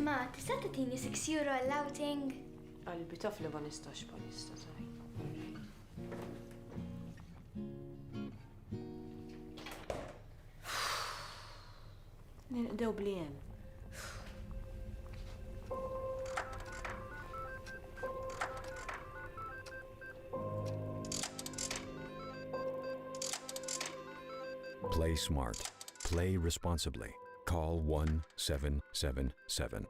Ma, tista' tagħtini 6 euro għall-outing? Qalbi taf li ma nistax palissa taj. Nilqdew bli hemm. Play smart. Play responsibly. Call 1777.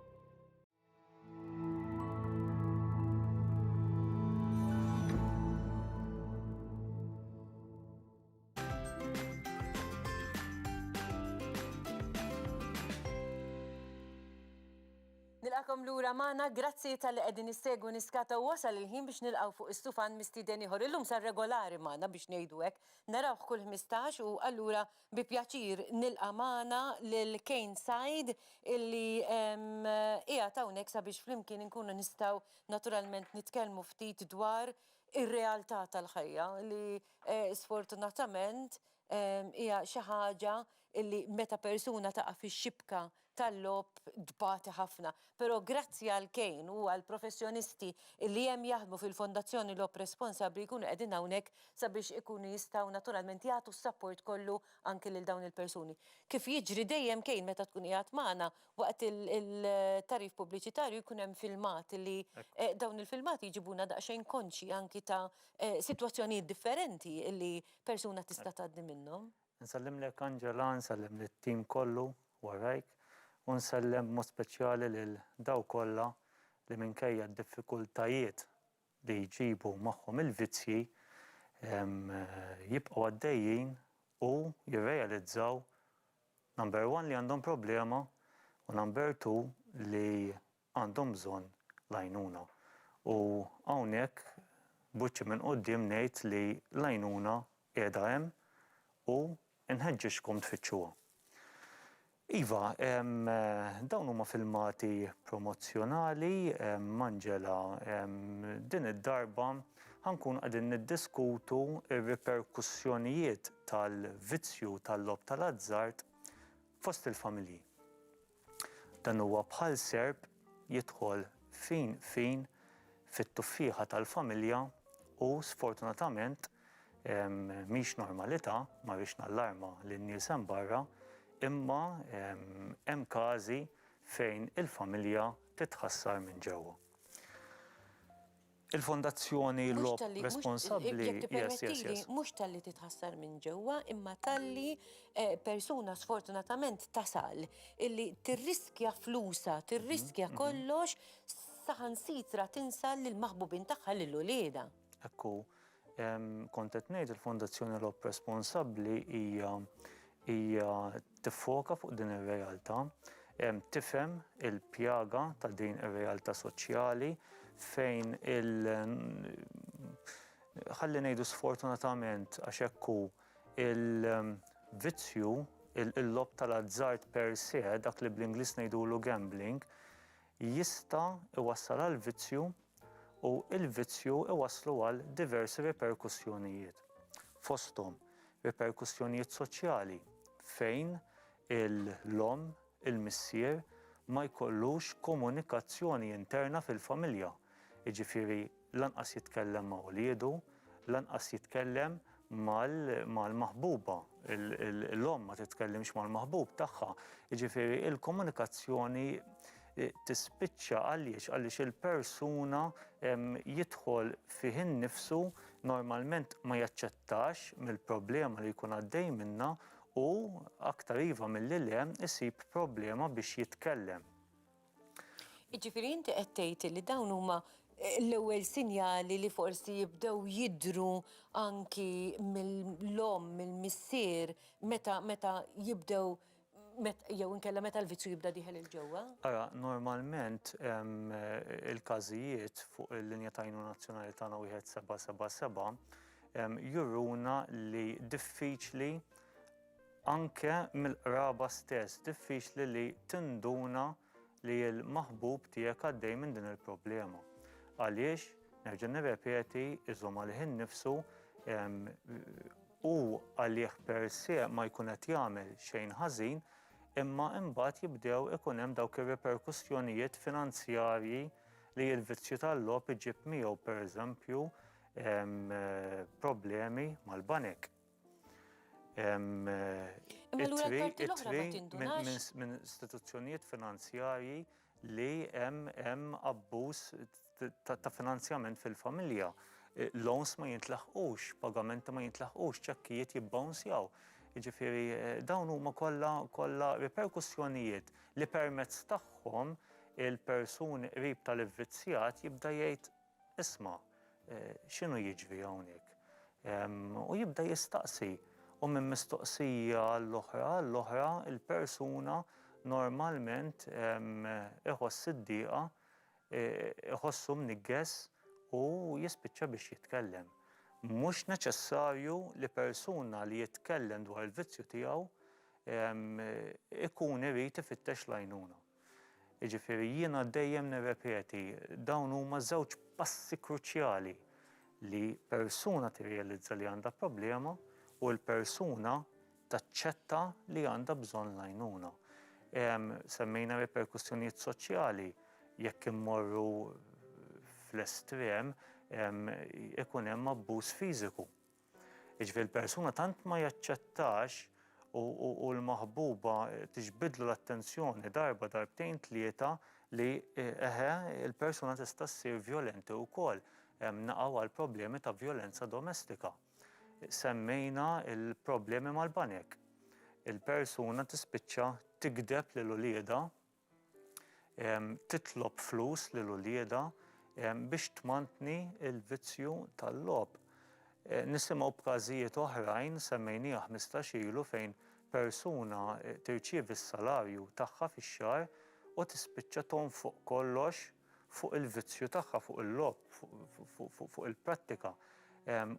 Nilqakom lura magħna, grazzi tal-li qegħdin nissegwu niskata wasal il-ħin biex nilqgħu fuq istufan mistieden ieħor. Illum sar regolari magħna biex ngħidu hekk. Narawh kull 15 u allura Bi pjaċir nilqa' magħna lil Kane Said illi qiegħed hawnhekk sabiex flimkien inkunu nistgħu naturalment nitkellmu ftit dwar ir-realtà tal-ħajja li sfortunatament hija xi ħaġa illi meta persuna taqa' fix-xibka tal-logħob tbati ħafna, però grazzi għal Kane u għall-professjonisti li hemm jaħdmu fil-Fondazzjoni Logħob Responsabbli jkunu qegħdin hawnhekk sabiex ikunu jistgħu naturalment jagħtu s-sapport kollu anki lil dawn il-persuni. Kif jiġri dejjem Kane meta tkun qiegħed magħna waqt il-tagħrif pubbliċitarju jkun hemm filmati li dawn il-filmati jġibuna daqsxejn konxji anki ta' sitwazzjonijiet differenti li persuna tista' tgħaddi minnhom. Nsellimlek Angela, nsellem lit-tim kollu warajk u nsellem b'mod speċjali lil dawk kollha li minkejja d-diffikultajiet li jġibu magħhom il-vizzji jibqgħu għaddejjin u jirrealizzaw number one li għandhom problema u number two li għandhom bżonn l-għajnuna. U hawnhekk b'wiċċi minn quddiem ngħid li l-għajnuna qiegħda hemm u nħeġġiġkom tfittxuha. Iva, dawn huma filmati promozzjonali m'Angela. Din id-darba ħa nkunu qegħdin niddiskutu r-riperkussjonijiet tal-vizzju tal-logħob tal-azzard fost il-familji. Dan huwa bħal serp jidħol fin fin fit-tuffieħa tal-familja u sfortunatament mhix normalità, ma rridx nallarma lin-nies hemm barra, imma hemm każi fejn il-familja titħassar minn ġewwa. Il-Fondazzjoni Mhux Logħob talli, mhux, Responsabbli, jekk yes, yes, tippermettili, yes. mhux talli titħassar minn ġewwa, imma talli eh, persuna sfortunatament tasal illi tirriskja flusha, tirriskja kollox saħansitra tinsal lill-maħbubin tagħha lil uliedha. Ekku, Kont qed ngħid il-Fondazzjoni Logħob Responsabbli hija hija tiffoka fuq din ir-realtà, tifhem il-pjaga ta' din ir-realtà soċjali fejn il ħalli ngħidu sfortunatament għax hekk hu il-vizzju il-logħob tal-azzard per se dak li bl-Ingliż ngħidulu gambling jista' jwassal għal vizzju u l-vizzju jwasslu għal diversi riperkussjonijiet, fosthom riperkussjonijiet soċjali fejn l-omm, il-missier ma jkollux komunikazzjoni interna fil-familja, jiġifieri, Lanqas jitkellem ma' uliedu, lanqas jitkellem mal-maħbuba. L-omm ma titkellimx mal-maħbub tagħha. Jiġifieri l-komunikazzjoni tispiċċa għaliex għaliex il-persuna jidħol fih innifsu normalment ma jaċċettax mill-problema li jkun għaddej minnha u aktar iva milli le jsib problema biex jitkellem. Jiġifieri inti qed tgħid li dawn huma l-ewwel sinjali li forsi jibdew jidhru anki mill-omm, mill-missier, meta meta jibdew jew inkella meta l-vizzju jibda dieħel 'il ġewwa? Ara, normalment il-każijiet fuq il-linja ta' għajnuna nazzjonali tagħna wieħed seba' seba' seba' juruna li diffiċli Anke mill-qraba stess diffiċli li tinduna li l-maħbub tiegħek għaddej minn din il-problema. Għaliex, nerġa' nirrepeti, iżomm għalih innifsu, hu għalih per se ma jkun qed jagħmel xejn ħażin, imma imbagħad jibdew ikun hemm dawk ir-riperkussjonijiet finanzjarji li l-vizzju tal-logħob iġib miegħu pereżempju problemi mal-banek. minn istituzzjonijiet finanzjarji li hemm abbuż ta' finanzjament fil-familja. Loans ma jintlaħqux, pagamenti ma jintlaħqux, ċekkijiet jibbawnsjaw. Jiġifieri dawn huma kollha kollha riperkussjonijiet li permezz tagħhom il-persuni qrib tal-ivvizzjat jibda jgħid, Isma', x'inhu jiġri hawnhekk? U jibda jistaqsi, u minn mistoqsija għall-oħra għall-oħra, il-persuna normalment iħoss id-diqa, iħossu mniggess u jispiċċa biex jitkellem. Mhux neċessarju li persuna li jitkellem dwar il-vizzju tiegħu ikun irid ifittex l-għajnuna. Jiġifieri jiena dejjem nirrepeti, dawn huma żewġ passi kruċjali li persuna tirrealizza li għandha problema u l-persuna taċċetta li għandha bżonn l-għajnuna. Semmejna riperkussjonijiet soċjali, jekk immorru fl-estrem ikun hemm abbuż fiżiku. Jiġifieri l-persuna tant ma jaċċettax u l-maħbuba tiġbidlu l-attenzjoni darba darbtejn tlieta li eħe il-persuna tista' ssir vjolenti wkoll. Hemm naqgħu għal problemi ta' vjolenza domestika. Semmejna l-problemi mal-banek. Il-persuna tispiċċa tigdeb lil uliedha titlob flus lil uliedha biex tmantni l-vizzju tal-logħob. Eh, nisimgħu b'każijiet oħrajn semmejnieha 15 ilu fejn persuna eh, tirċievi s-salarju tagħha fix-xahar u tispiċċa tonfoq kollox fuq il-vizzju tagħha, fuq il-lob, fuq il-prattika.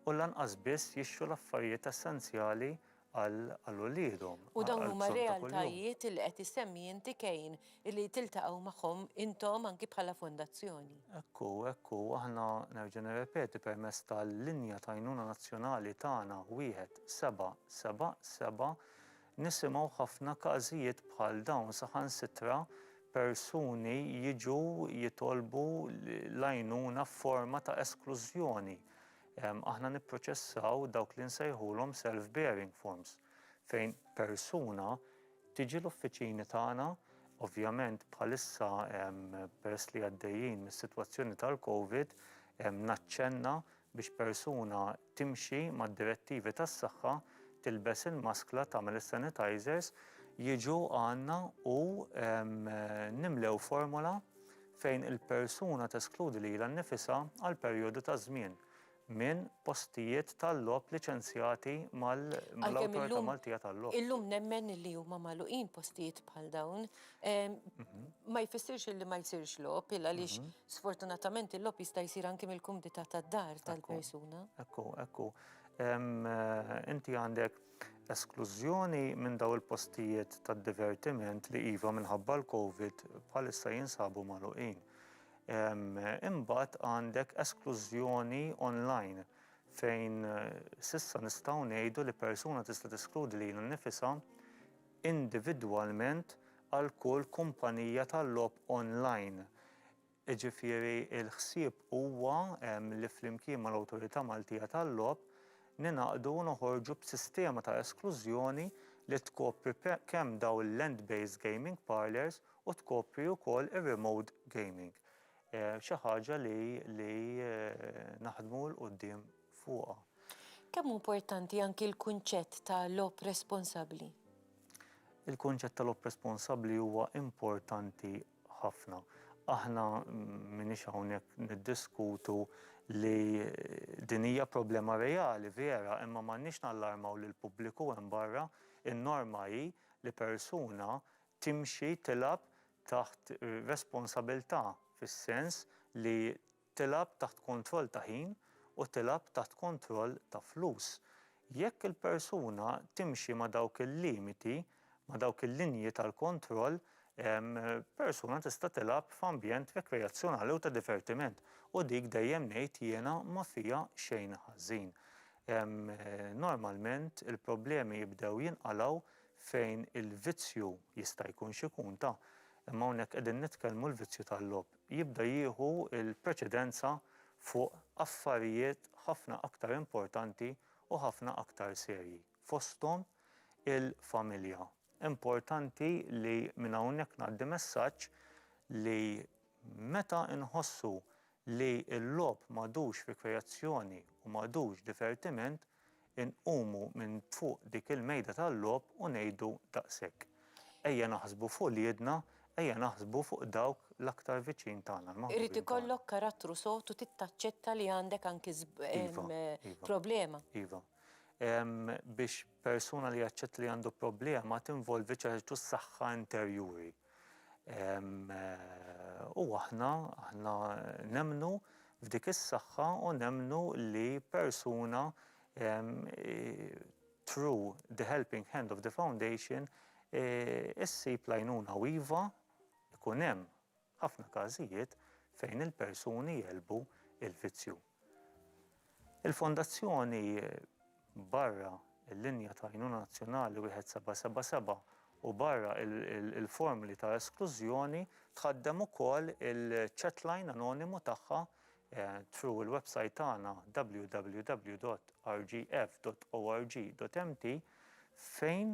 U lanqas biss jixxu l-affarijiet essenzjali għal uliedhom. U dawn huma realtajiet li qed issemmi inti Kane li tiltaqgħu magħhom intom anki bħala fondazzjoni. Hekk hu, hekk hu. Aħna, nerġa' nirrepeti, permezz tal-linja ta' għajnuna nazzjonali tagħna wieħed seba' seba' seba' nisimgħu ħafna każijiet bħal dawn saħansitra persuni jiġu jitolbu l-għajnuna f'forma ta' esklużjoni. Aħna nipproċessaw dawk li nsejħulhom self-bearing forms fejn persuna tiġi l-uffiċini tagħna Ovvjament bħalissa peress li għaddejjin mis-sitwazzjoni tal-Covid naċċenna biex persuna timxi mad-direttivi tas-saħħa, tilbes il-maskla, tagħmel is-sanitizers, jiġu għandna u nimlew formola fejn il-persuna teskludi lilha nnifisha għal perjodu ta' żmien minn postijiet tal-logħob liċenzjati mal-Awtorità Maltija tal-Logħob. Illum nemmen li huma magħluqin postijiet bħal dawn. Ma jfissirx illi ma jsirx logħob, il għaliex sfortunatament il-logħob jista' jsir anki mill-kumdità tad-dar tal-persuna. Ekku, ekku. Inti għandek Esklużjoni minn dawn il-postijiet tad-divertiment li iva minħabba l-Covid bħalissa jinsabu magħluqin. Imbagħad għandek esklużjoni online fejn s'issa nistgħu ngħidu li persuna tista' teskludi lilha nnifisha individwalment għal kull kumpanija tal-logħob online. Jiġifieri l-ħsieb huwa li flimkien mal-Awtorità Maltija tal-Logħob ningħaqdu u noħorġu b'sistema ta' esklużjoni li tkopri kemm dawn il-land based gaming parlours u tkopri wkoll ir-remote gaming. Xi ħaġa li li naħdmu 'l quddiem fuqha. Kemm hu importanti anki l-kunċett ta' logħob responsabbli? Il-kunċett ta' logħob responsabbli huwa importanti ħafna. Aħna m'iniex hawnhekk niddiskutu li din hija problema reali vera imma m'għandniex nallarmaw lill-pubbliku hemm barra. In-norma hi li persuna timxi tilgħab taħt responsabilità fis-sens li Tilgħab taħt kontroll ta' ħin u tilgħab taħt kontroll ta' flus. Jekk il-persuna timxi ma' dawk il-limiti, ma' dawk il-linji tal-kontroll, persuna tista' tilgħab f'ambjent rekreazzjonali u ta' divertiment u dik dejjem ngħid jiena ma fiha xejn ħażin. Normalment il-problemi jibdew jinqalgħu fejn il-vizzju jista' jkun x'ikun ta' imma hawnhekk qegħdin nitkellmu l-vizzju tal-logħob. jibda jieħu l-preċedenza fuq affarijiet ħafna aktar importanti u ħafna aktar serji, fosthom il-familja. Importanti li minn hawnhekk ngħaddi messaġġ li meta nħossu li l-logħob m'għadux rikreazzjoni u m'għadux divertiment, inqumu minn fuq dik il-mejda tal-logħob u ngħidu daqshekk. Ejja naħsbu fuq uliedna, ejja naħsbu fuq dawk l-aktar viċin tagħna, l-maħbubin tagħna. Irid ikollok karattru sod u tittaċċetta li għandek anki problema. Iva. Biex persuna li jaċċetta li għandu problema tinvolvi ċertu saħħa interjuri. U aħna, aħna nemmnu f'dik is-saħħa u nemmnu li persuna through the helping hand of the foundation issib l-għajnuna u iva jkun hemm ħafna każijiet fejn il-persuni jegħlbu il-vizzju. Il-Fondazzjoni barra l-linja ta' għajnuna nazzjonali 1777 u barra l-formli ta' esklużjoni tħaddem ukoll il-chatline anonimu tagħha through il-website tagħna www.rgf.org.mt fejn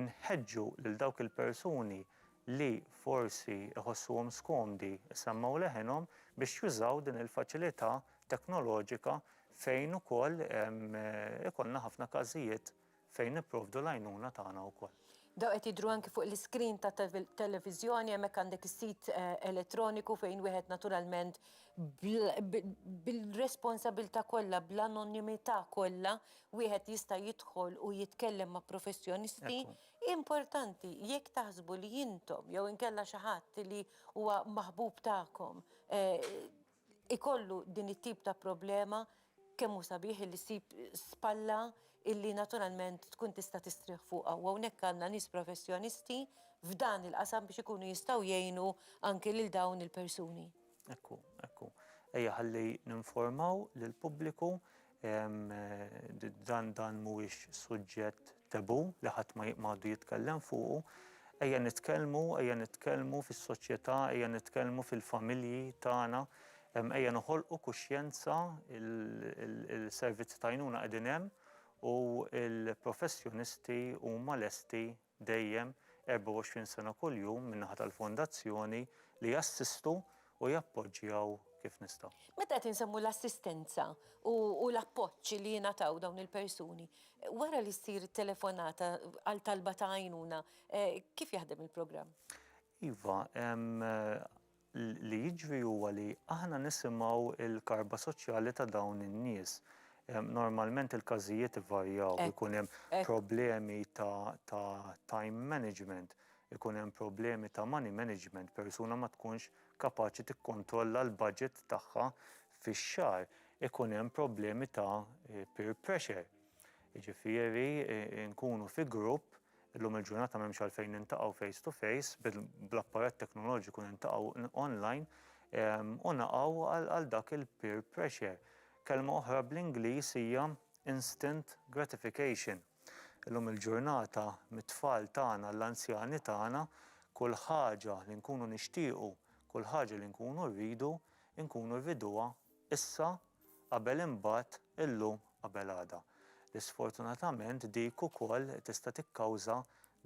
inħeġġu lil dawk il-persuni li forsi jħossuhom skomdi jsemmew leħinhom biex jużaw din il-faċilità teknoloġika fejn ukoll ikollna ħafna każijiet fejn nipprovdu l-għajnuna tagħna wkoll. Dawn qed jidhru anki fuq l-iscreen tat-televiżjoni, hemmhekk għandek is-sit elettroniku fejn wieħed naturalment bil-responsabilità kollha, bl-anonimità kollha, wieħed jista' jidħol u jitkellem ma' professjonisti Importanti, jekk taħsbu li intom jew inkella xi ħadd li huwa maħbub tagħkom ikollu din it-tip ta' problema, kemm hu sabiħ illi ssib spalla illi naturalment tkun tista' tistrieħ fuqha. U hawnhekk għandna nies professjonisti f'dan il-qasam biex ikunu jistgħu jgħinu anki lil dawn il-persuni. Hekk hu, hekk hu. Ejja ħalli ninformaw lill-pubbliku Dan dan mhuwiex suġġett tebu li ħadd ma jqmadu jitkellem fuqu. Ejja nitkellmu, ejja nitkellmu fis-soċjetà, ejja nitkellmu fil-familji tagħna, ejja noħolqu kuxjenza il-servizzi tajnuna qegħdin hemm u l-professjonisti huma lesti dejjem 24 sena kuljum min-naħa tal-Fondazzjoni li jassistu u jappoġġjaw kif nistgħu. Meta qed insemmu l-assistenza u l-appoġġ li jingħataw dawn il-persuni, wara li ssir it-telefonata għal talba ta' għajnuna, kif jaħdem il-programm? Iva, Li jiġri huwa li aħna nisimgħu l-karba soċjali ta' dawn in-nies. Normalment il-każijiet ivarjaw, ikun hemm problemi ta' time management, ikun hemm problemi ta' money management, persuna ma tkunx kapaċi tikkontrolla l-budget tagħha fix-xahar, ikun hemm problemi ta' peer pressure, jiġifieri nkunu fi grupp Illum il-ġurnata m'hemmx għalfejn niltaqgħu face to face, bl-apparat teknoloġiku niltaqgħu online u naqgħu għal dak il-peer pressure. Kelma oħra bl-Ingliż hija instant gratification. Illum il-ġurnata mit-tfal tagħna għall-anzjani tagħna, kull ħaġa li nkunu nixtiequ, kull ħaġa li nkunu rridu, inkunu rriduha issa Qabel imbagħad, illum qabel għada. Li sfortunatament dik ukoll tista' tikkawża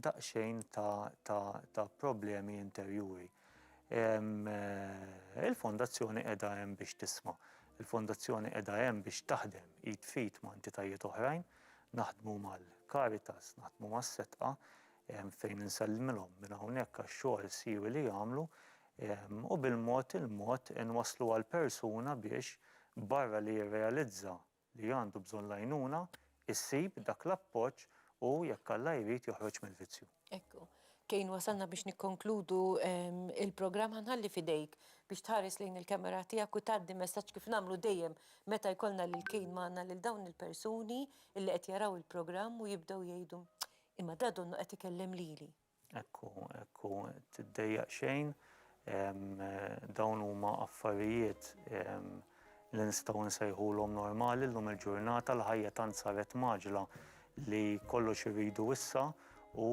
daqsxejn ta' ta' ta' problemi interjuri. Ehm, il-Fondazzjoni qiegħda hemm biex tisma'. Il-Fondazzjoni qiegħda hemm biex taħdem id f'id ma' entitajiet oħrajn, naħdmu mal-Caritas, naħdmu mas-Setqa, ehm, fejn insellmilhom minn hawnhekk għax-xogħol siwi li jagħmlu, u bil-mod il-mod inwasslu għall-persuna biex, barra li jirrealizza li għandu bżonn l-għajnuna, issib dak l-appoġġ u, jekk Alla jrid, joħroġ mill-vizzju. Ekku. Kane wasalna biex nikkonkludu il-programm. Ħa nħalli f'idejk biex tħares lejn il-camera tiegħek u tgħaddi messaġġ kif nagħmlu dejjem meta jkollna lil Kane magħna lil dawn il-persuni illi qed jaraw il-programm u jibdew jgħidu, Imma da donnu qed ikellem lili. Hekk hu, hekk hu. Tiddejjaq xejn. Dawn huma affarijiet li nistgħu nsejħulhom normali llum il-ġurnata. L-ħajja tant saret mgħaġġla li kollox irridu issa u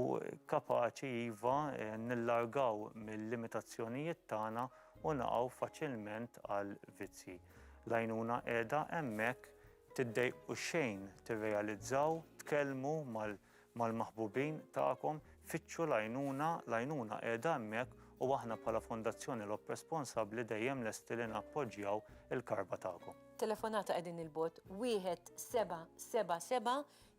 kapaċi iva nillargaw mil-limitazzjonijiet tagħna u naqgħu faċilment għal vizzji. L-għajnuna qiegħda hemmhekk. Tiddejqu xejn tirrealizzaw, tkellmu mal. mal-maħbubin tagħkom, fittxu l-għajnuna, l-għajnuna qiegħda hemmhekk u aħna bħala Fondazzjoni Lok Responsabbli dejjem lesti li nappoġġjaw il-karba tagħkom. Telefonata qegħdin il-bogħod 1777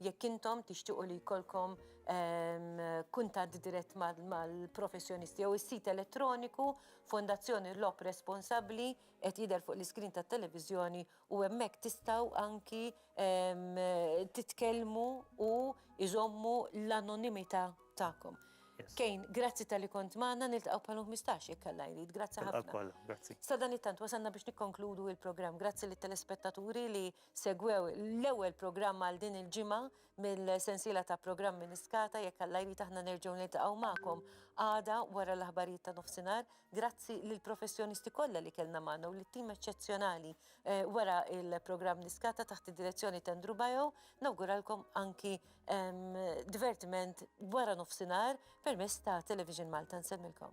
jekk intom tixtiequ li jkollkom ehm, kuntatt dirett mal-professjonisti jew is-sit elettroniku Fondazzjoni Lok Responsabbli qed jidher fuq l-iskrin tat-televiżjoni u hemmhekk tistgħu anki titkellmu u iżommu l-anonimità tagħkom. Kejn, grazzi tal-li kont magħna niltaqgħu bħal 15 jekk Alla jrid. Grazzi ħafna. Sadanittant wasalna biex nikkonkludu l-programm. Grazzi lit-telespettaturi li segwew l-ewwel programm għal din il-ġimgħa. mill-sensiela ta' programmi Niskata jekk Alla jrid aħna nerġgħu niltaqgħu magħkom għada wara l-aħbarijiet ta' nofsinhar. Grazzi lill-professjonisti kollha li kellna magħna u lit-tim eċċezzjonali eh, wara il-programm Niskata taħt id-direzzjoni ta' Andrew Bajo nawguralkom anki ehm, divertiment wara nofsinhar permezz ta' Television Malta nsemmilkom.